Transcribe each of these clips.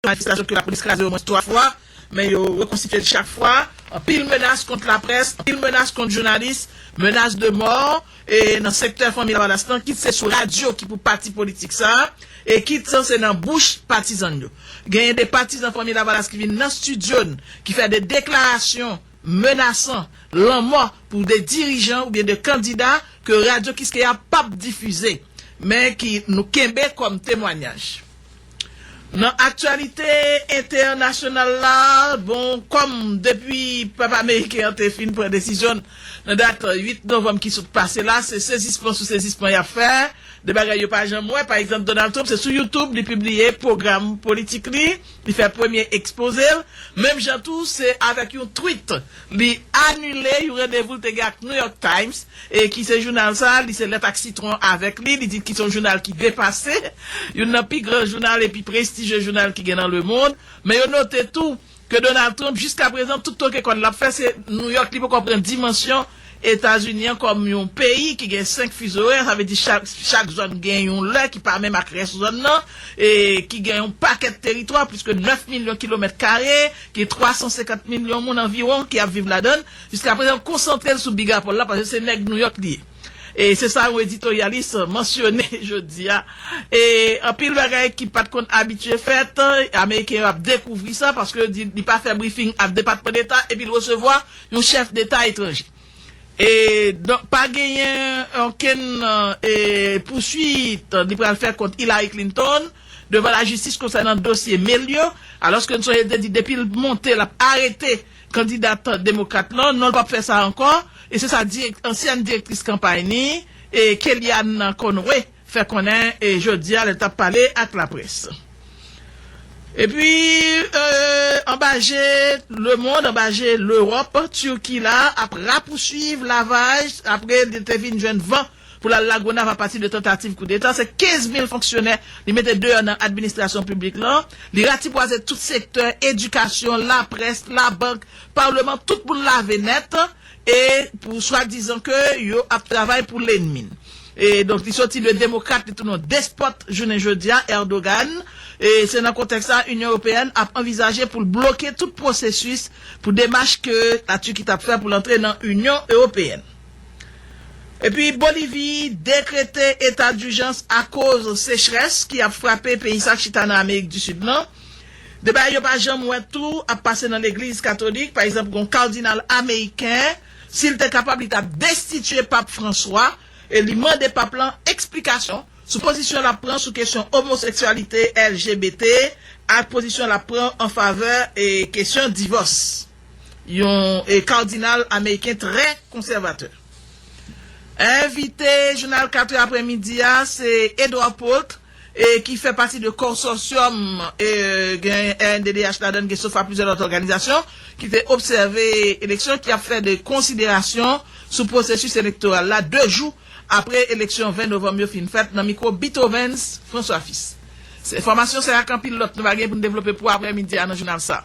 yon majistra ke lapolis kraze omwens 3 fwa, men yo rekonstitye l chak fwa, anpil menas kont laprès, anpil menas kont jounalis, menas de mò e nan sektè Fanmi Lavalas lan, kit se sou radyo ki pou pati politik sa a, e kit se nan bouch patizan n yo. Genyen de patizan Fanmi Lavalas ki vin nan stidyo n, ki fè de deklarasyon menasan lanmò pou de dirijan oubyen de kandida ke Radyo Kiskeya pap difize, men ki nou kenbe kòm temwanyaj. Nan aktyalite entènasyonal la, bon, kòm depi pèp ameriken an te fin pran desizyon l nan dat 8 novanm ki sot pase la, se sezisman sou sezisman y ap fè de bagay yo pa janm wè. Pa egzanp, Donald Trump, se sou YouTube li pibliye pwogram politik li, li fè premye ekspoze l, menm jan tou se avèk yon tweet. Li anile yon randevou l te gen ak New York Times, ki se jounal sa a, li se lèt ak sitwon avèk li, li di ki se yon jounal ki depase, youn nan pi gran jounal epi prestijye jounal ki gen nan lemond. Men yo note tou ke Donald Trump jiskaprezan tout toke kòn l ap fè se New York, li poko pran dimansyon Etazini an kòm yon peyi ki gen 5 fizo orè, sa vle di chak zòn gen yon lè ki pa menm ak rès zòn nan, e ki gen yon pakèt teritwa, plis ke 9 milyon kilomèt kare, gen 350 milyon moun anviwon ki ap viv ladan l. Jiska prezan yo konsantre l sou Bigapòl la paske se nèg Nouyòk li ye. E se sa yon editoryalis mansyone jodi a. E anpil bagay ki pa t konn abitye fèt, Ameriken yo ap dekouvri sa paske yo di li pa fè brifing ak Depatman Deta epi l resevwa yon chèf deta etranje e donk pa genyen okenn pouswit li pral fè kont Hillary Clinton devan lajistis konsènan dosye mail yo alòske n sonje l te di depi l monte l ap arete kandidat demokrat lan non l pap fè sa ankò e se sa ansyèn direktris kanpay ni Kellyanne Conway fè konnen jodi a lè l t ap pale ak laprès. Epi, anba je lemond, anba je Lewòp, Turki la ap rapousuiv lavaj apre li te vin jwenn van pou l al Lagonav apati de tantativ koudeta. Se 15 mil fonksyonè li mete deyò nan administrasyon piblik lan. Li ratipwaze tout sektè, edikasyon, laprès, labank, palman, tout moun lave nèt. E pou swa dizan ke yo ap travay pou lenmi n. E donk li soti de demokrat li tounen yon despòt jounen jodi a, Erdogan. E se nan kontèks sa a Inyon Ewopeyèn ap anvizaje pou l bloke tout pwosesis pou demach ke La Turki t ap fè pou l antre nan Inyon Ewopeyèn. Epi Bolivi dekrete eta dijans akoz sechrès ki ap frape peyi sa k chita nan Amerik di Sid lan. De bagay yo pa janm wè tou ap pase nan legliz katolik, pa egzanp gon kardinal ameriken, si l te kapab li t ap destitye pap Franswa e li mande pap lan eksplikasyon sou pozisyon l ap pran sou kesyon omoseksyalite, LGBT ak pozisyon l ap pran an favè kesyon divòs. Yon kardinal ameriken trè konsèvatè. Envite jounal 4 è aprè midi a se Edward Pult. e ki fè pati de konsòsyòm e gen rnddh ladan l gen sofa plizyè lòt òganizasyon ki te obsève eleksyon ki ap fè de konsiderasyon sou pwosesis elektoral la 2 jou apre eleksyon 20 novanm yo fin fèt nan mikwo Bithovens François Fils. Se enfòmasyon sa ak anpil lòt nou va gen pou n devlope pou aprè midi a nan jounal sa.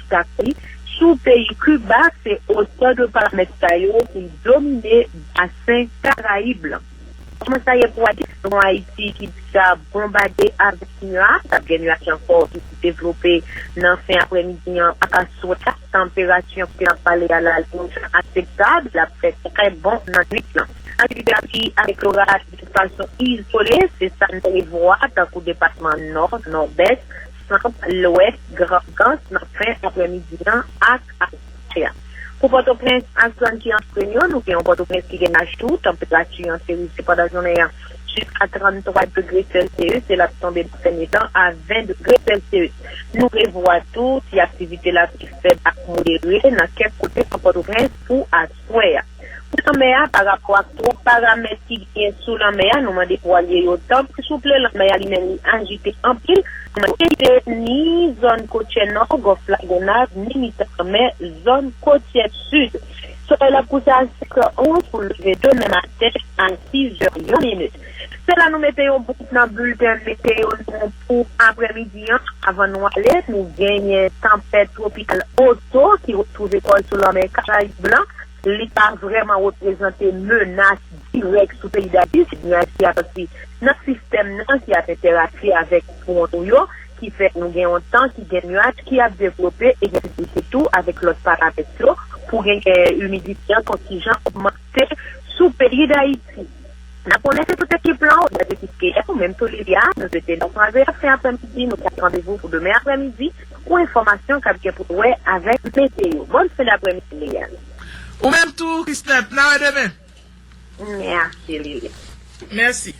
Takti sou peyi Kiba se otè de paramèt sa yo pou l domine basen Karayib lan. Kòman sa ye pou Ayiti? Se yon Ayiti ki deja bonbade avèk nwa, k ap gen nuaj ankò ki pou devlope nan fen aprèmidi an ak aswè a. Tanperati an kote n ap pale a la li yon jan aseptab, l ap fè trè bon nannuit lan. Aktivite lapli avèk loraj de fason izole se sa n prevwa tankou depatman Nò, Nòdès, Tanp Lwès Grandans nan fen aprèmidi an ak avan mache a. Pou Pòtoprens ak zòn ki antoure l yo, nou gen yon Pòtoprens ki gen lach tou, tanperati an se rive pandan jounen an jiska 33 degre Celsius e l ap tonbe nan dènye tan a 20 degre Celsius. Nou prevwa tou ti aktivite lapli fèb ak modere nan kèk kote nan Pòtoprens pou aswè a. Pou lanmè a, pa rapò ak twòp paramèt ki genyen sou lanmè a, nou mande vwalye yo tanpri souple lanmè a li menm li ajite anpil, nou mande yo kite ni zòn kotyè nò, Gòf la Gonav, ni mitan lanmè, zòn kotyè sid. Solèy la pouse a 5 è 11 pou l leve demen maten a 6 è yon minit. Se la nou mete yon bout nan bilten meteyo nou pou aprèmidi an. Avan nou ale, nou genyen tanpèt twopikal Otto ki retwouve kò l sou lanmè Karayib lan. Li pa vrèman reprezante menas dirèk sou peyi Dayiti. Se nyaj ki ap soti nan sistèm nan ki ap entèraji avèk fwon nou yo ki fè nou gen yon tan ki gen nyaj ki ap devlope e gen posiblite tou avèk lòt paramèt yo pou genyen imidite an kontijan ogmante. Se sou peyi Dayiti. Nan konnen se tout ekip lan ou byen ekip ke ou menm tou li a, nou swete nou kwaze ap fen apremidi nou pran randevou pou demen apremidi pou enfòmasyon kap gen pou wè avèk meteyo. Bòn fen dapremidi Liliane. Ou menm tou Christelle, na wè demen. Merci Liliane. Mèsi.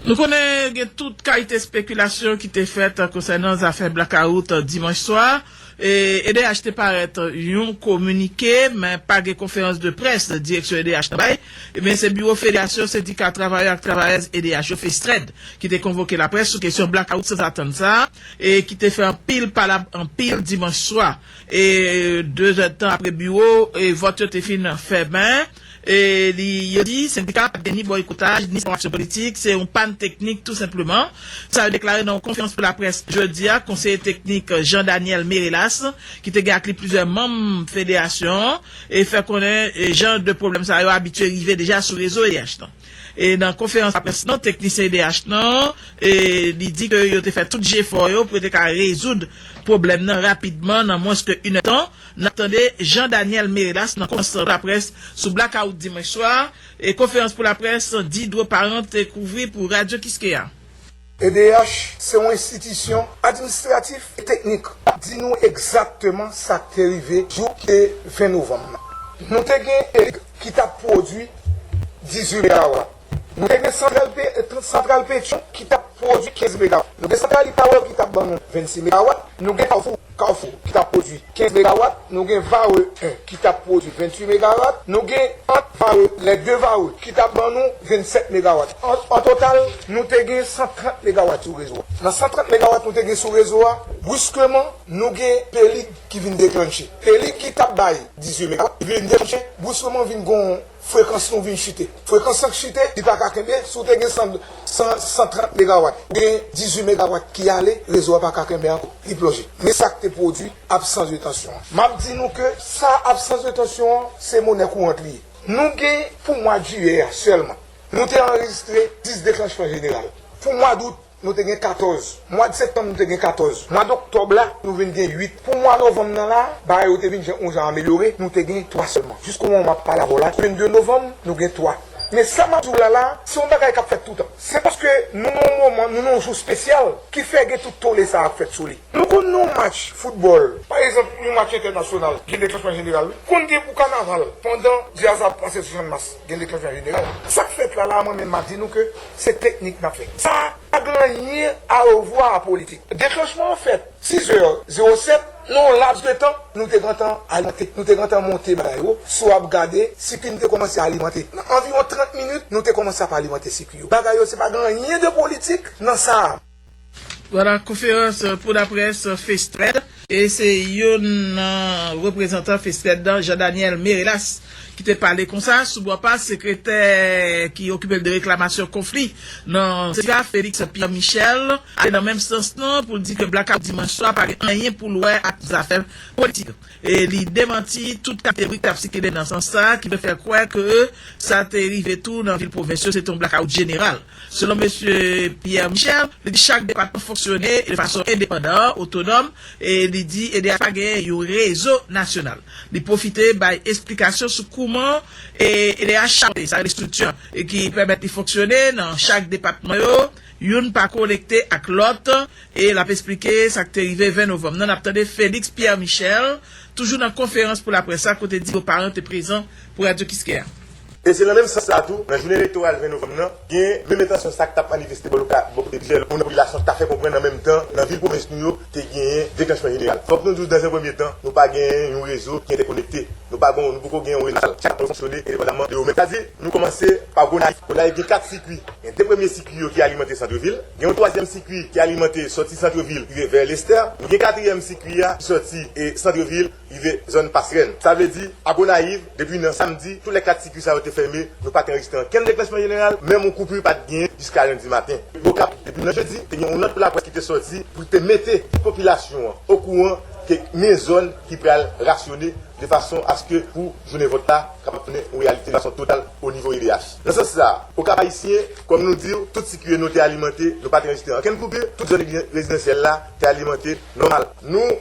Nou konnen gen tout kalite spekilasyon ki te fèt konsènan zafè blakawout dimanch swa. Edh te parèt yon kominike men pa gen konferans de près direksyon edh nan bay, ebyen se biwo federasyon sendika travayè ak travayèz edh yo, Festrèd, ki te konvoke laprès sou kesyon blakawout sanzatann sa a e ki te fè anpil palab anpil dimanch swa e dezèdtan apre biwo e vòt yo te fin fèmen. Yo di sendika a pat gen ni bòykotaj ni sepawasyon politik, se yon pàn teknik tou senpleman. Sa yo deklare nan yon konferans pou laprès jodi a konseye teknik Jean Daniel Merelas ki te gen ak li plizyè manm federasyon an fè konnen jan de pwoblèm sa yo abitye rive deja sou rezo edh nan. Nan konferans laprès nan teknisyen edh nan li di ke yo te fè tout jefò yo pou yo te ka rezoud pwoblèm nan rapidman nan mwens ke inèdtan. N ap tande Jean Daniel Merelas nan konferans pou laprès sou blakawout dimanch swa, konferans pou laprès Didro Parent te kouvri pou Radyo Kiskeya. Edh se yon enstitisyon administratif e teknik k ap di nou egzakteman sa k te rive jou ki te 20 novanm nan. Nou te gen Edh ki t ap pwodui 18 megawatt. Nou te gen santral pe tr santral Petion ki t ap pwodui 15 mega, nou gen santral Ipawer ki t ap ban nou 26 megawat, nou gen Kafou, Carrefour, ki t ap pwodui 15 megawat, nou gen Varreux 1 ki t ap pwodui 28 megarat, nou gen ant Varreux, les deux Varreux, ki t ap ban nou 27 megawat. An an total, nou te gen 130 megawat sou rezo a. Nan 130 megawat nou te gen sou rezo a, briskeman, nou gen Pelig ki vin deklannche. Pelig ki t ap bay 18 megawat, li vin deklannche, briskeman vin gon. Frekans nou vin chite. Frekans an k chite, li pa ka kenbe. Si w te gen 100, 130 megawat, ou gen 18 megawat ki ale, rezo a pa ka kenbe ankò, li plonje. Men sa k te pwodui absans de tansyon an. M ap di nou ke sa absans de tansyon an, se monè kourant li ye. Nou gen pou mwa jiyè a sèlman, nou te anrejistre 10 deklanchman jeneral. Pou mwa dout, Nou te gen 14. Mwad septanm nou te gen 14. Mwad oktòb la, nou vin gen 8. Pou mwa novanm nan la, bagay yo te vin jan yon jan amelyore, nou te gen 3 sèlman. Jiskau moman map pale avèw la, 22 novanm, nou gen 3. Men sa map diw la la, se yon bagay kap fèt toutan. Se paske nou nan yon moman, nou nan yon jou spesyal ki fè gen tout tole sa ap fèt sou li. Nou konn nan yon match foutbòl, pa egzanp yon match entènasyonal, gen deklansman jeneral wi. Konn gen pou kanaval pandan djaz la ap pase sou chanmas. Gen de klèk nan jeneral. Sak fèt la la mwen menm map di nou ke se teknik nap fè. Sa pa gen anyen a revwa a politik. Deklanchman an fèt 6 zè 0 7 nan yon laps de tan nou te gentan alimante, nou te gentan monte bagay yo sou ap gade sikui nou te komanse alimante. Nan anviwon 30 minit nou te komanse ap alimante sikui yo. Bagay yo se pa gen anyen de politik nan sa. Pandan konferans pou laprès Festrèl. E se youn nan reprezantan Festrèl nan, Jean Daniel Merelas, ki te pale konsa. Sou bò pa sekretè ki okipe l de reklamasyon konfli nan sendika, Felix Pierre Michel, ale nan menm sans lan pou l di ke blakawout dimanch swa pa gen anyen pou l wè ak zafè politik. E li demanti tout kalite bri k t ap sikile nan sans sa ki vle fè kwè ke sa te rive tou nan vil pwovens yo, se te yon blakawout jeneral. Selon Mesye Pierre Michel, li di chak depatman fonksyone de fason endepandan, otonòm, e li di EDH pa genyen yon rezo nasyonal. Li pwofite bay esplikasyon sou kouman EDH chape, sa rele strikti an, ki pèmèt li fonksyone nan chak depatman yo, youn pa konekte ak lòt, e l ap esplike sa k te rive 20 novanm nan. N ap tande Félix Pierre Michel, toujou nan konferans pou laprès la, kote di yo paran te prezan pou Radio Kiskeya. E se nan menm sans la tou, nan jounen elektoral 20 novanm nan, gen menm entansyon sa k t ap manifeste bò lòt kote plizyè moun nan popilasyon an ta fè konprann nan menm tan nan vil pwovens nou yo te genyen deklanchman jeneral. Fòk nou di w dans un premier temps nou pa genyen yon rezo ki entèkonekte. Nou pa gon, nou poko gen yon rezo nasyonal. Chak zòn fonksyone endepandaman de yo menm. Sa di, nou kòmanse pa Gonayiv. Gonayiv gen 4 sikui. Gen 2 premye sikui yo ki alimante santre vil. Gen yon twazyèm sikui ki alimante sòti santre vil rive vè Lestè. Nou gen katriyèm sikui a ki sòti e santre vil. rive zòn Pasrèn. Sa vle di, a Gonayiv, depi nan samdi, tou lèt kat sikui sa yo te fèmen, nou pa t anrejistre ankenn deklèchman jeneral, menm yon koupi pa t genyen jiska lendi maten. Pou Okap, depi nan jedi, te gen yon nòt pou laprès ki te sòti pou te mete tout popilasyon an okouran ke gnyen zòn ki pral rasyone de fason aske pou jounen vòt la kapab tounen yon reyalite de fason total onivo edh. Nan sans sa, Okap-Ayisyen, kòm nou di w, tout sikui nou te alimante, nou pa t anrejistre ankenn koupi, tout zòn rezidansyèl la te alimante nòmal. Nou.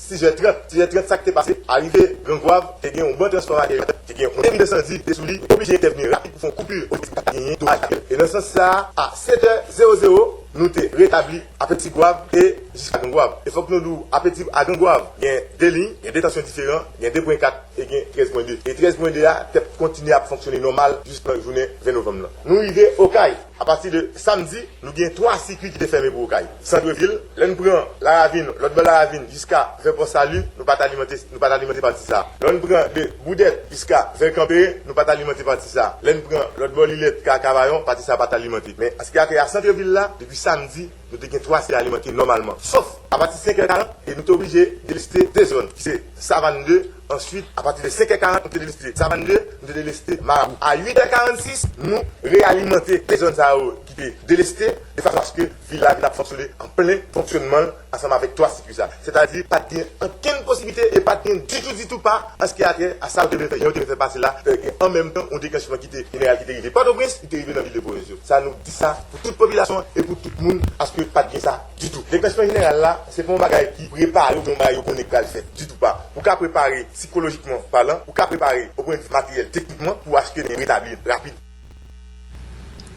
Tizè trèt, tizè trèt sa k te pase? Arive Grangwav, te gen yon ban transfòmatè yo te gen yon pwoblèm ensandi ki te sou li, yo te oblije entèvni rapid pou fè yon koupur pou evite ta genyen domaj materyèl. E nan sans sa a, a 7 è 0 0, nou te retabli a Petigwav e jiska Grangwav. E fòk nou di w, a Petit a Grangwav, gen 2 liy, gen 2 tansyon diferan, gen 2 pwen 4 e gen 13 pwen 2. E 13 pwen 2 a t ap kontinye ap fonksyone nòmal jis nan jounen 20 novanm lan. Nou rive Okay. Apati de samdi, nou gen 3 sikui ki te fèmen pou Okay. Sandrevil, lè n pran Laravin, lòt bò Laravin jiska vè Pò Sali, nou pa t alimante, nou pa t alimante pati sa a. Lò n pran de Boudèt jiska vè Kanperen, nou pa t alimante pati sa a. Lè n pran lòt bò Lilèt ka Kavayon, pati sa a pa t alimante. Men, an ski Akèy a Santrevil la, depi samdi, nou te gen 3 si alimante nòmalman. Sof, apati 5 è 40, e nou te oblije deleste 2 zòn, ki se Savann 2, Answit, a pati de 5 è 40, nou te deleste Savann 2, nou te deleste Marabou. A 8 è 46, nou reyalimante 2 zòn sa yo ki te deleste, de fason aske vil la vin ap fonksyone an plen fonksyonman l ansanm avèk 3 sikwi sa. Sètadi, pa t gen ankenn posiblite e pa t gen ditou ditou pa anske atè a sa yo te vle fè, jan yo te vle fè pase la, fè gen an menm tan yon deklanchman ki te jeneral ki te rive Pòtoprens, ki te rive nan vil de pwovens yo. Sa nou di sa pou tout popilasyon an e pou tout moun aske pa t gen sa. Ditou. Depèchman jeneral la, se pa yon bagay ki prepare oubyen yon bagay yo konnen k pral fèt ditou pa. Ou ka prepare sikolojikman palan, ou ka prepare opwendivi materyèl teknikman pou achte men retabli rapid.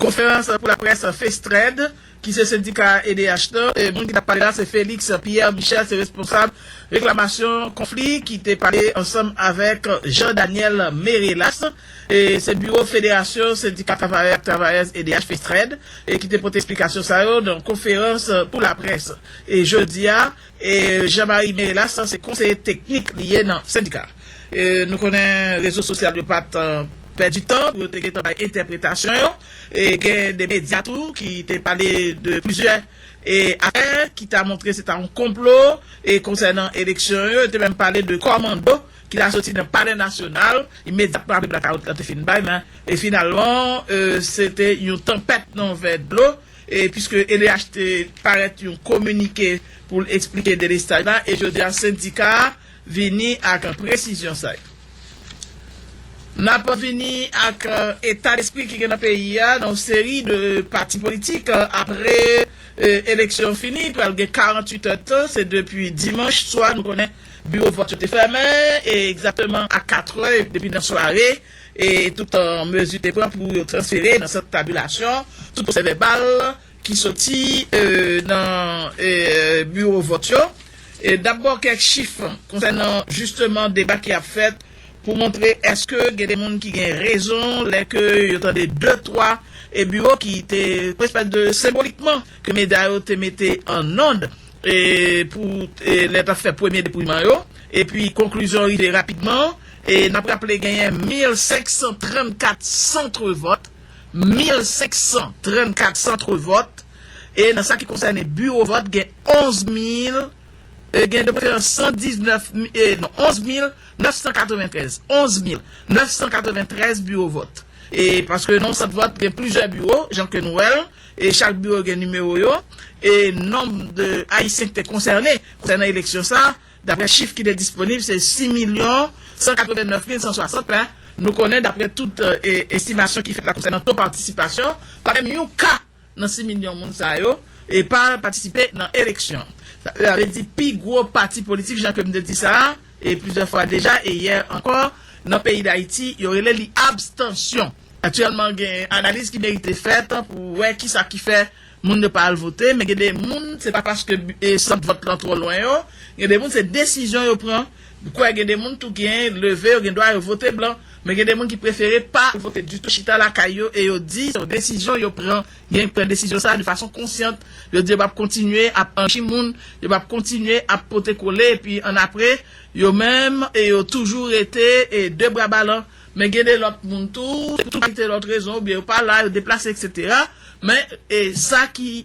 Konferans pou laprès Festred, ki se sendika edh nan, moun ki t ap pale la se Félix Pierre Michel, se responsab reklamasyon konfli ki te pale ansanm avèk Jean Daniel Merelas. Se biwo Federasyon Sendika Travayè ak Travayèz edh, Festrèd, ki te pote esplikasyon sa yo nan yon konferans pou laprès jodi a. Jean Marie Merelas se konseye teknik li ye nan sendika a. Nou konnen rezo sosyal yo pa t pèdi tan pou yo te gentan bay entèpretasyon yo. Gen de medya tou ki te pale de plizyè afè ki ta montre se ta yon konplo konsènan eleksyon yo. Yo te menm pale de kòmando. ki ta soti nan palè nasyonal imedyatman apre blakawout la te fin bay men e finalman se te yon tanpèt nan vè dlo e piske edh te parèt yon kominike pou l eksplike delestaj la e jodi a sendika a vini ak presizyon sa yo. N ap vini ak eta despri ki gen nan peyi a nan yon seri de pati politik apre eleksyon fini pral gen 48 è tan se depi dimanch swa nou konnen Biwo vòt yo te fèmen egzakteman a katrè depi nan sware e tout mezi te pran pou yo transfere nan sant tabilasyon tout pwosèvèbal ki soti nan biwo vòt yo. Dabò kèk chif konsènan jisteman deba ki ap fèt pou montre èske gen de moun ki gen rezon lè ke yo tande de twa biwo ki te prensipal de senbolikman ke medya yo te mete an nonde pou lè tap fè premye depouyman yo epi konklizyon rive rapidman e nap raple genyen 1534 centre vòt 1534 centre vòt e nan sa ki konsène biwo vòt gen 11000 e gen de preferans 119 e non 11993 11993 biwo vòt e paske nan yon sant vòt gen plizyè biwo jan ke nou wèl. E chak biwo gen nimewo yo e nonb de Ayisyen ki te konsène konsènan eleksyon sa a, daprè chif ki te disponib, se 6 milyon 189 mil 160 la. Nou konnen daprè tout estimasyon ki fèt la konsènan to patisipasyon, pa menm yon ka nan 6 milyon moun sa yo e pa patisipe nan eleksyon. Sa vle di pi gwo pati politik, jan ke m te di sa a, e plizyè fwa deja e yè ankò nan peyi Dayiti, yo rele li abstansyon. Aktyèlman gen analiz ki merite fèt pou wè kisa ki fè moun yo pa al vote, men gen de moun se pa paske sant vòt lan twò lwen yo, gen de moun se desizyon yo pran, m kwè gen de moun tou gen leve yo gen dwa yo vote blan, men gen de moun ki prefere pa al vote ditou chita lakay yo e yo di se yon desizyon yo pran Gen ki pran desizyon sa a de fason konsyant, yo di yo p ap kontinye ap anchi moun, yo p ap kontinye ap pote kole epi annapre, yo menm, yo toujou rete de bra balan. Men gen de lòt moun tou, pou tout kalite lòt rezon, oubyen yo pa la, yo deplase eksetera, men sa ki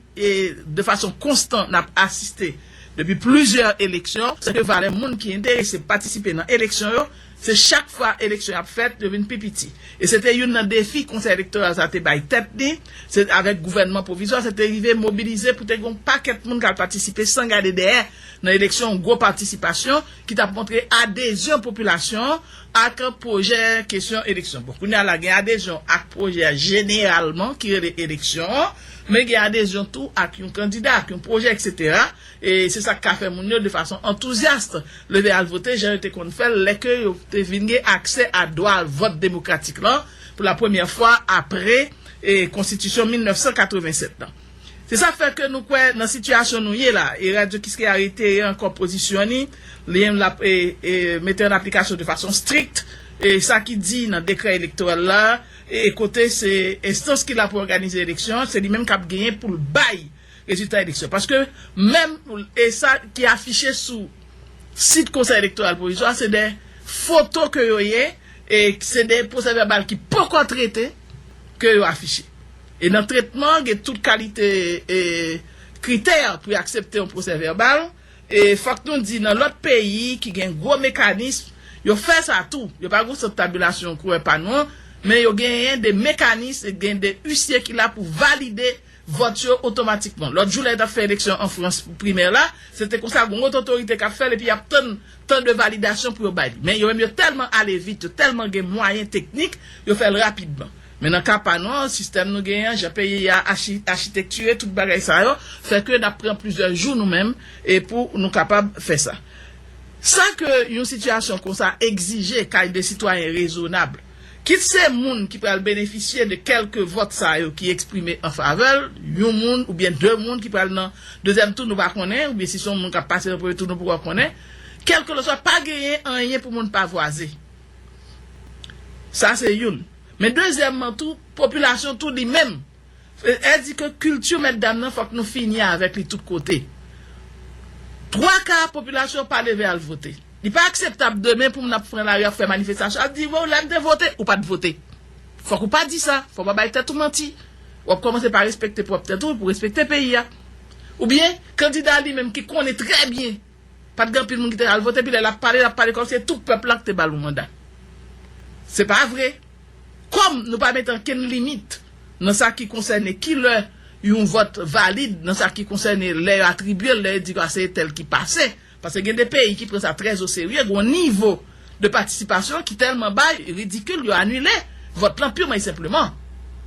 de fason konstan n ap asiste depi plizyè eleksyon, se ke valè moun ki enterese patisipe nan eleksyon yo, Se chak fwa eleksyon ap fèt, yo vin pi piti. E se te youn nan defi Konsèy Elektoral sa te bay tèt li, se avèk gouvènman pwovizwa, se te rive mobilize pou te gen yon pakèt moun k al patisipe san gade dèyè nan eleksyon, yon gwo patisipasyon ki t ap montre adezyon popilasyon an ak pwojè kesyon eleksyon. Bon, kounye a la gen adezyon ak pwojè a jeneralman ki rele eleksyon an, men gen adezyon tou ak yon kandida, ak yon pwojè eksetera. E se sa k ka fè moun yo, de fason antouzyast, leve al vote jan yo te konn fè l lè ke yo te vin gen aksè a dwa vòt demokratik lan pou la premyè fwa apre Konstitisyon 1987 lan. Se sa k fè ke nou kwè nan sitiyasyon nou ye la e Radyo Kiskeya reyitere ankò pozisyon ni li l ap mete an aplikasyon de fason strikt sa ki di nan dekrè elektoral la e kote se enstans ki la pou òganize eleksyon se li menm k ap genyen pou l bay Rezilta eleksyon. Paske menm e sa ki afiche sou sit konsèy elektoral pwovizwa se de foto ke yo ye e se de pwosè vèbal ki poko trete ke yo afiche. E nan tretman an gen tout kalite e kritè pou yo aksepte yon pwosè vèbal e fòk nou di nan lòt peyi ki gen gwo mekanism yo fè sa tou. Yo pa gen sant tabilasyon kouwè pa nou an men yo genyen de mekanism e gen de usye ki la pou valide vòt yo otomatikman. Lòt jou lè yo t ap fè eleksyon an Frans pou primè la, se te konsa gon lòt otorite k ap fè l epi y ap tann tan de validasyon pou yo bay li. Men yo menm yo tèlman ale vit, yo tèlman gen mwayen teknik, yo fè l rapidman. Men nan ka pa nou an, sistèm nou genyen an, jan peyi a achi achitektire, tout bagay sa yo fè ke n ap pran plizyè jou nou menm e pou nou kapab fè sa. Sa ke yon sitiyasyon konsa egzije kay de sitwayen rezonab. Kit se moun ki pral benefisye de kèlke vòt sa yo ki eksprime an favè l, yon moun oubyen de moun ki pral nan dezyèm tou nou pa konnen, oubyen si se yon moun k ap pase nan premye tou nou poko konnen, kèlkelanswa pa genyen anyen pou moun pavwaze. Sa se youn. Men dezyèmman tou, popilasyon tou li menm Vle di ke kilti mètdam nan fòk nou fini avèk li tout kote. Twa ka popilasyon an pa leve al vote. Li pa akseptab demen pou moun ap pran lari ap fè manifestasyon ap di wè lè m te vote ou pat vote. Fòk ou pa di sa, fòk ou pa bay tèt ou manti. W ap kòmanse pa respekte pwòp tèt ou pou w respekte peyi a. Oubyen kandida li menm ki konnen trè byen. Pat gen anpil moun ki te al vote epi lè lap pale lap pale kòmsi se tout pèp la ki te bal yon manda. Se pa vre. Kòm nou pa mete ankenn limit nan sa ki konsène ki lè yon vòt valid nan sa ki konsène lè yo atribye l lè yo di aseye tèl ki pase paske gen de peyi ki pran sa trè oserye gon nivo de patisipasyon ki tèlman ba ridikil yo anile vòt lan pirman e senpleman.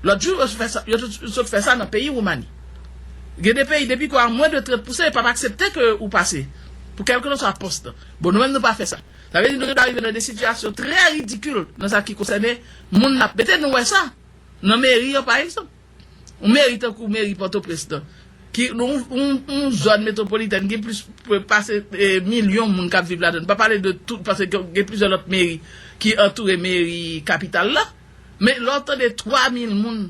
Lòt jou yo sot fè sa nan peyi Woumani. Gen de peyi depi ke a mwen de trèt pouse yo pap aksepte ke ou pase pou kèlkelanswa pòs lan. Bon nou menm nou pa fè sa. Sa vle di nou gen dwa rive nan de sitiyasyon trè ridikil nan sa ki konsène moun nap mete. Nou wè sa nan meri yo pa egzanp. Yon meri tankou meri Pòtoprens lan, ki yon zòn metwopolitèn gen plis pase milyon moun k ap viv ladann, pa pale de tout, paske gen plizyè lòt meri ki antoure meri kapital la, men lè w tande 3 mil moun,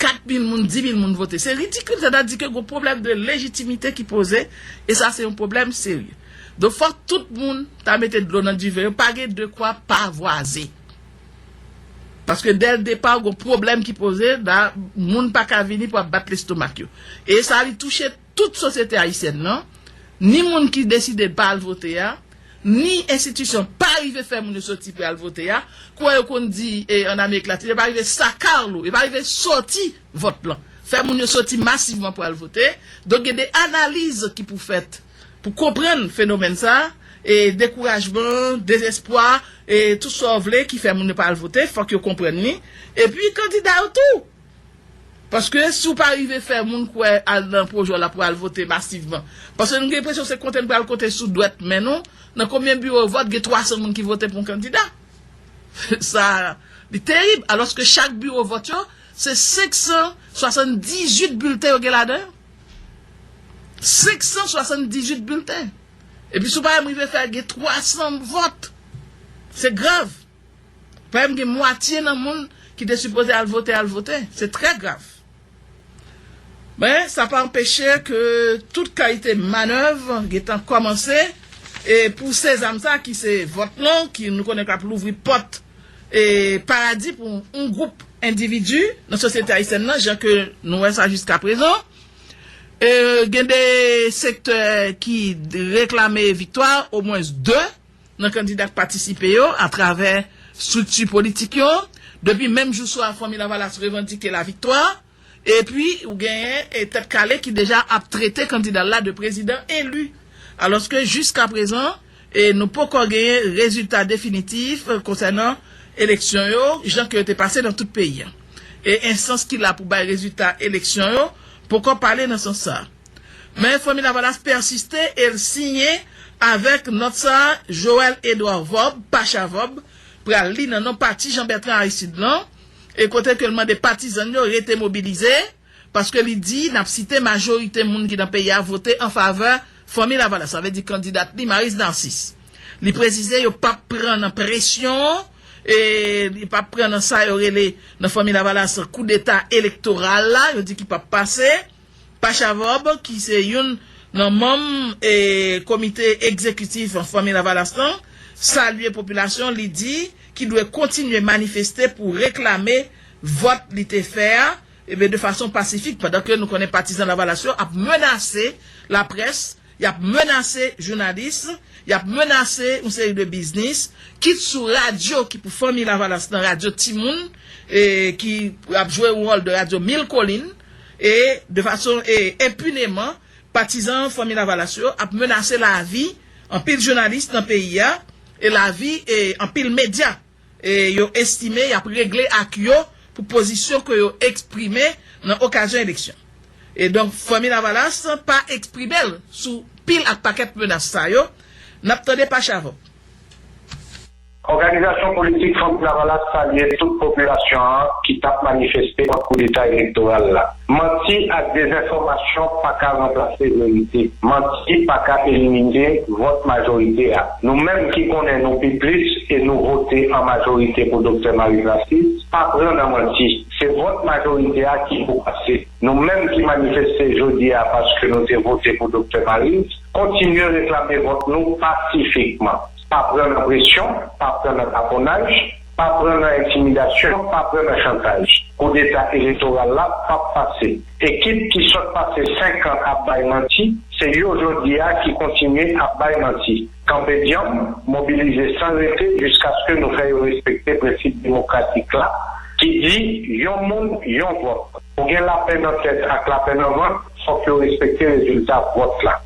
4 mil moun, 10 mil moun vote, se ridikil, sa ta di ke gon pwoblèm de lejitimite ki poze, e sa se yon pwoblèm serye. Donk fòk tout moun ta mete dlo nan diven yo, pa gen dekwa pavoise. Paske dèl depaw gon pwoblèm ki poze la moun paka vini pou ap bat lestomak yo. E sa li touche tout sosyete ayisyèn nan, ni moun ki deside pa al vote a, ni enstitisyon pa rive fè moun yo soti pou yal vote a, kouwè yo konn di an amerik latin yo pa rive sakarlo, yo pa rive soti vòt lan, fè moun yo soti masivman pou al vote, donk gen de analiz ki pou fèt. Pou konprann fenomèn sa, e dekourajman, dezespwa, e tout sa w vle ki fè moun yo pa al vote, fòk yo konprann li, epi kandida yo tou! Paske si w pa rive fè moun kwè al nan pwojè w la pou al vote masivman, paske nou gen enpresyon se konte n pral konte sou dwèt men nou, nan konbyen biwo vòt gen 300 moun ki vote pou yon kandida? Sa, li terib! Alòske chak biwo vòt yo, se 578 bilten yo gen ladan yo. 578 bilten. Epi sou parèm rive fè gen 300 vòt. Se grav. Parèm gen mwatye nan moun ki te sipoze al vote al vote. Se trè grav. Men, sa pa anpeche ke tout kalite manèv gen tan kòmanse e pou sezam sa ki se vòt lan ki nou konnen k ap louvri pòt paradi pou yon gwoup endividi nan sosyete ayisyèn nan jan ke nou wè sa jiska prezan. Gen 2 sektè ki reklame viktwa omwens 2 nan kandida k patisipe yo atravè strikti politik yo. Depi menm jou swa Fanmi Lavalas revandike laviktwa. Epi, ou genyen Tèt Kale ki deja ap trete kandida l la de prezidan eli. Alòske jiskaprezan, nou poko genyen rezilta definitif konsènan eleksyon yo, jan ke yo te pase nan tout peyi a. E enstans ki la pou bay rezilta eleksyon yo poko pale nan sans sa. Men Fanmi Lavalas pèsiste e l siyen avèk nòt sa Joël Edouard Vob, Pacha Vob, pral li nan non pati Jean Bertrand Aristide lan, e kote ke l mande patizan l yo rete mobilize, paske li di, n ap site, majorite moun ki nan peyi a vote an favè Fanmi Lavalas, sa vle di kandidat li Maryse Narcisse. Li presize yo p ap pran nan presyon, e li p ap pran nan sa yo rele nan Fanmi Lavalas koudeta elektoral la, yo di ki p ap pase. Pachavob ki se youn nan manm komite egzekitif Fanmi Lavalas lan salye popilasyon li di ki dwe kontinye manifeste pou reklame vòt li te fè a de fason pasifik pandan ke nou konnen patizan Lavalas yo ap menase laprès, y ap menase jounalis, y ap menase yon seri de biznis kit sou radyo ki pou Fanmi Lavalas lan, radyo timoun ki ap jwe yon wòl de radyo mil kolin. E, de fason e, enpuneman, patizan Fanmi Lavalas yo ap menase lavi anpil jounalis nan peyi a, e lavi e, anpil medya e, yo estime y ap regle ak yo pou pozisyon ke yo eksprime nan okazyon eleksyon. E donk, Fanmi Lavalas pa eksprime l sou pil ak pakèt menas sa yo, n ap tande pa chavòk. Òganizasyon politik Fanm Lavalas salye tout popilasyon an ki tap manifeste kont koudeta elektoral la. Manti ak dezenfòmasyon pa ka ranplase verite. Manti pa ka elimine vòt majorite a. Nou menm ki konnen nou pi plis e nou vote an majorite pou Doktè Maryse Narcisse, pa pran nan manti. Se vòt majorite a ki pou pase. Nou menm ki manifeste jodi a paske nou te vote pou Doktè Maryse, kontinye reklame vòt nou pasifikman. Pa pran nan presyon, pa pran nan taponaj, pa pran nan entimidasyon, pa pran nan chantaj. Koudeta elektoral la pap pase. Ekip ki sot pase 5 an ap bay manti, se yo jodi a ki kontinye ap bay manti. Kanpe dyanm, mobilize san rete jiskaske nou fè yo respekte prensip demokratik la ki di yon moun, yon vòt. Pou gen lapè nan tèt ak lapè nan vant, fòk yo respekte rezilta vòt la.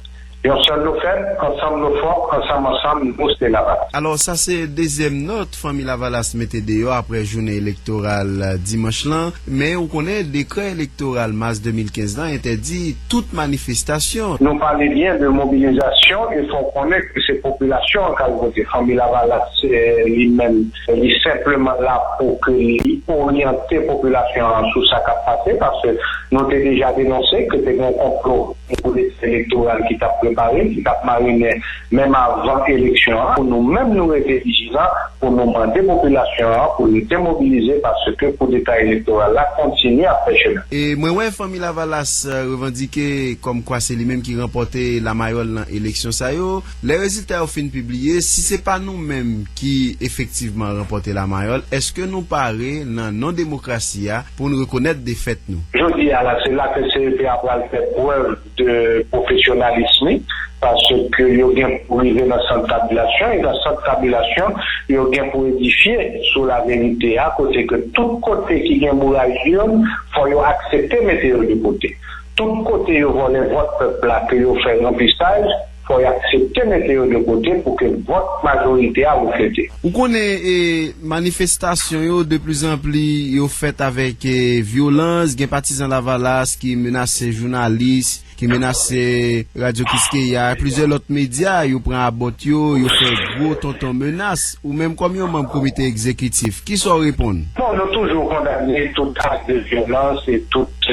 Yon sèl nou fèb, ansanm nou fò, ansanm ansanm nou se Lavalas. Alò sa se dezyèm nòt Fanmi Lavalas mete deyò aprè jounen elektoral dimanch lan. Men ou konnen dekrè elektoral mas 2015 lan entèdi tout manifestasyon. Nou pale byen de mobilizasyon e fè w konnen ke se popilasyon an k al vote. Fanmi Lavalas li menm li senpleman la pou ke li oryante popilasyon an sou sa k ap pase paske nou te deja denonse ke te gen yon konplo. Yon pwosèsis elektoral ki t ap prepare, ki t ap marinen menm avan eleksyon an pou nou menm nou rete vijilan pou nou mande popilasyon an pou rete mobilize paske koudeta elektoral la kontinye ap fè chemen. E mwen wè Fanmi Lavalas revandike kòmkwa se li menm ki ranpòte lamayòl nan eleksyon sa yo. Lè rezilta yo fin pibliye, si se pa nou menm ki efektivman ranpòte Lamayòl, èske nou pare, nan non demokrasi a, pou n rekonèt defèt nou? Jodi a la, se la ke CEP a pral fè prèv de pwofesyonalism li, paske yo gen pou rive nan sant tabilasyon, e nan sant tabilasyon, yo gen pou edifye sou laverite a, kote ke tout kote ki gen mouray urn, fò yo aksepte mete yo de kote. Tout kote yo vòlè vòt pèp la, ke yo fè ranpisaj, Fò y aksepte mete yo de kote pou ke vòt majorite a reflete. Ou konnen e manifestasyon yo de pli zan pli yo fèt avèk e vyolans, gen patizan lavalas ki menase jounalis, ki menase Radyo Kiskeya, plizyè lòt medya yo pran a bòt yo, yo fè gwo tonton menas. Ou menm kòm yon manm komite egzekitif, kisa w reponn? Bon, nou toujou kondane tout ak de vyolans e tout.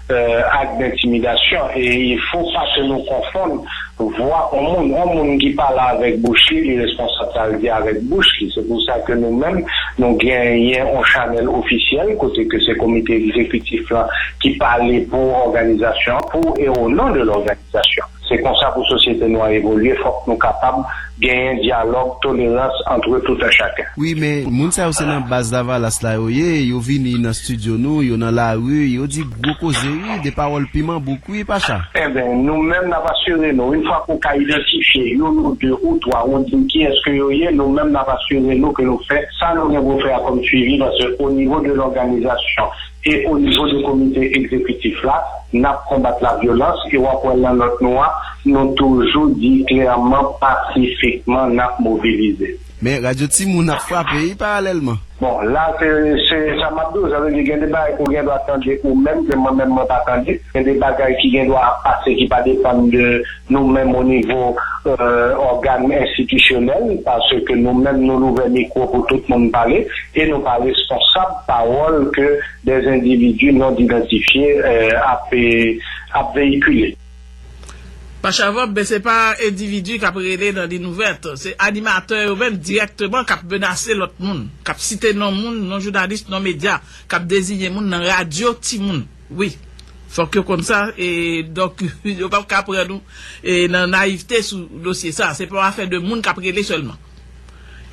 Ak d'intimidation e il fo pa ke nou konfonn vwa on moun, on moun ki pale avèk bouch li, li responsab sa l di avèk bouch li, se pou sa ke nou menm nou genyen on chanèl ofisyèl kote ke se komite egzekitif lan ki pale pou òganizasyon an, pou e o non de l'organisation. Sitiyasyon. Se konsa pou sosyete nou an evolye fòk nou kapab genyen dyalòg, tolerans antre tout un chacun. Wi men moun sa yo se nan baz lavalas la yo ye, yo vini nan studio nou, yo nan lari, yo di gwo koze wi, de pawòl piman bouk wi Pacha. Enben, nou menm n ap asire nou, yn fwa ke w ka idantifye youn ou de ou twa ou di m kiyès ke yo ye, nou menm n ap asire nou ke nou fè sa nou gen pou fè a kòm swivi paske onivo de lòganizasyon E o nivo de komite egzekitif la, n ap konbat lavyolans e w ap wè nan nòt nou a, nou toujou di klèman pasifikman n ap mobilize. Men, radyo timoun ap frape wi paralèlman. Bon, la se se sa m ap di w, sa vle di gen de bagay ou gendwa tande ou menm ke mwen menm mwen pa tande, gen de bagay ki gendwa ap pase ki pa depann de. Nou menm onivo ògàn enstitisyonèl, paske nou menm nou louvè mikwo pou tout moun pale e nou pa responsab pawòl ke dè endividi non idantifye ap veyikile. Pa chavòb, men se pa endividi k ap rele nan lin ouvèt, se animatè yo menm dirèkteman k ap menase lòt moun, k ap site non moun, non jounalis, non medya, k ap dezinye moun nan radyo timoun. Wi fok yo konn sa e donk yo pap ka pran nou nan nayivte sou dosye sa. Se pa yon afè de moun kap rele selman.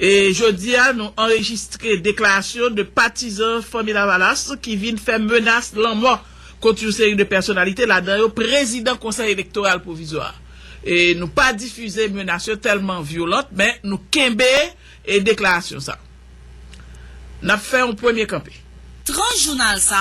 E jodi a nou anrejistre deklarasyon de patizan Fanmi Lavalas ki vin fè menas lanmò kont yon seri de pèsonalite ladan yo prezidan konsèy elektoral pwovizwa a. E nou pa difize menas yo telman vyolant men nou kenbe deklarasyon sa. Nap fè yon premye kanpe. Tranche jounal sa